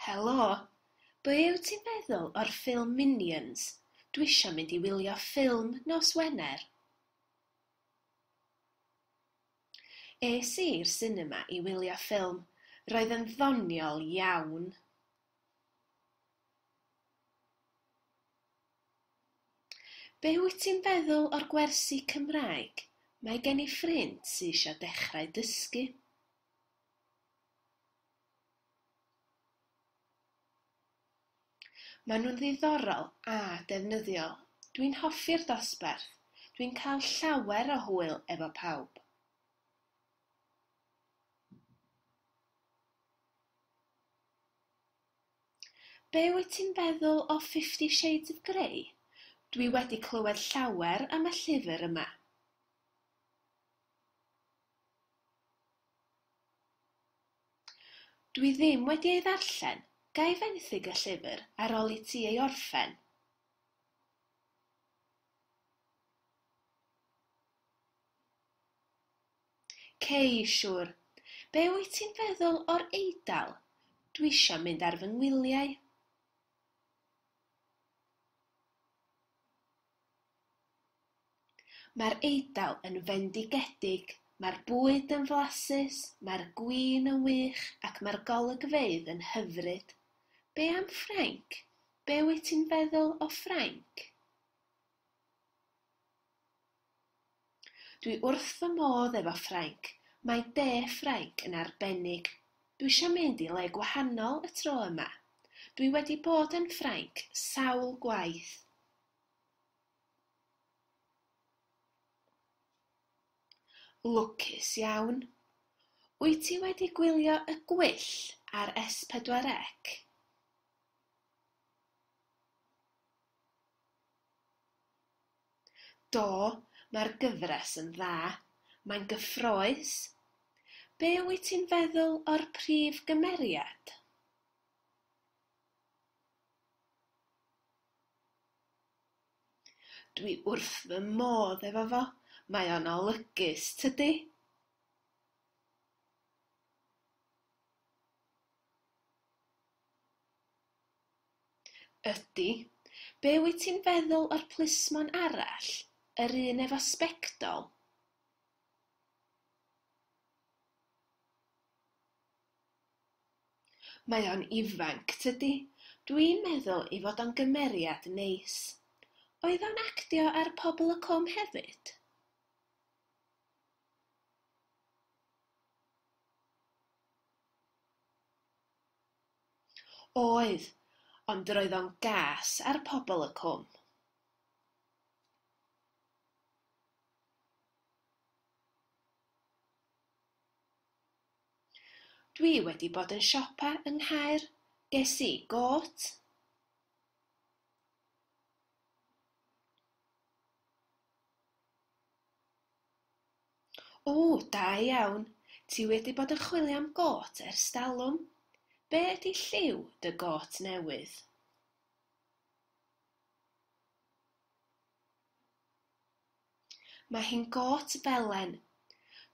Helo! Beth wyt ti'n meddwl o'r ffilm Minions? Dwi isio mynd i wylio ffilm nos Wener. Es i i'r sinema i wylio ffilm. Roedd yn ddoniol iawn. Be wyt ti'n feddwl o'r gwersi Cymraeg? Mae gen i ffrind sy eisiau dechrau dysgu. Mae nhw'n ddiddorol a defnyddiol. Dwi'n hoffi'r dosbarth. Dwi'n cael llawer o hwyl efo pawb. Be wyt ti'n feddwl o Fifty Shades of Grey? Dwi wedi clywed llawer am y llyfr yma. Dwi ddim wedi ei ddarllen. Ga i fenthyg y llyfr ar ol i ti ei orffen? Cei, siŵr. Be wyt ti'n feddwl o'r Eidal? Dwi eisiau mynd ar fy ngwyliau. Mae'r Eidal yn fendigedig, mae'r bwyd yn flasus, mae'r gwin yn wych ac mae'r golygfeydd yn hyfryd. Be am Ffrainc? Be wyt ti'n feddwl o Ffrainc? Dwi wrth fy modd efo Ffrainc, mae de Ffrainc yn arbennig. Dwi isio mynd i le gwahanol y tro yma. Dwi wedi bod yn Ffrainc sawl gwaith. Lwcus iawn. Wyt ti wedi gwylio y gwyll ar S4C? Do, mae'r gyfres yn dda. Mae'n gyffrous. Be wyt ti'n feddwl o'r prif gymeriad? Dwi wrth fy modd efo fo. Mae o'n olygus, tydi? Ydy. Be wyt ti'n feddwl o'r plismon arall? Yr un efo sbectol? Mae o'n ifanc, tydi? Dwi'n meddwl ei fod o'n gymeriad neis. Oedd o'n actio ar Pobol y Cwm hefyd? Oedd, ond yr oedd o'n gas ar pobl y cwm. Dwi wedi bod yn siopa yng Nghaer, ges i gôt. O, da iawn. Ti wedi bod yn chwilio am gôt ers talwm? Be ydy lliw dy gôt newydd? Mae hi'n gôt felen.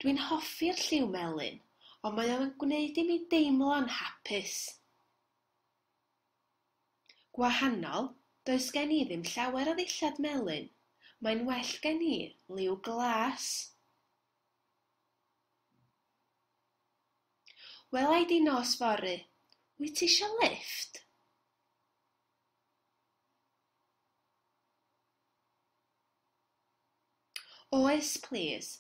Dwi'n hoffi'r lliw melyn, ond mae o'n gwneud i mi deimlo'n hapus. Gwahanol, does gen i ddim llawer o ddillad melyn, mae'n well gen i liw glas. Wela i di nos fory, wyt ti isio lifft? Oes plîs,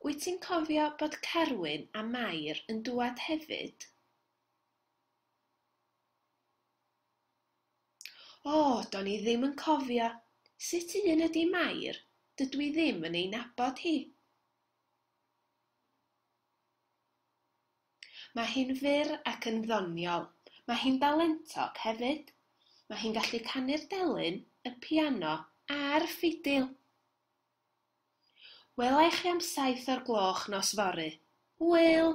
wyt ti'n cofio bod Carwyn a Mair yn dŵad hefyd? O, do'n i ddim yn cofio. Sut un ydi Mair? Dydw i ddim yn ei nabod hi. Mae hi'n fyr ac yn ddoniol. Mae hi'n dalentog hefyd. Mae hi'n gallu canu'r delyn, y piano a'r ffidil. Wela i chi am saith o'r gloch nos fory. Hwyl!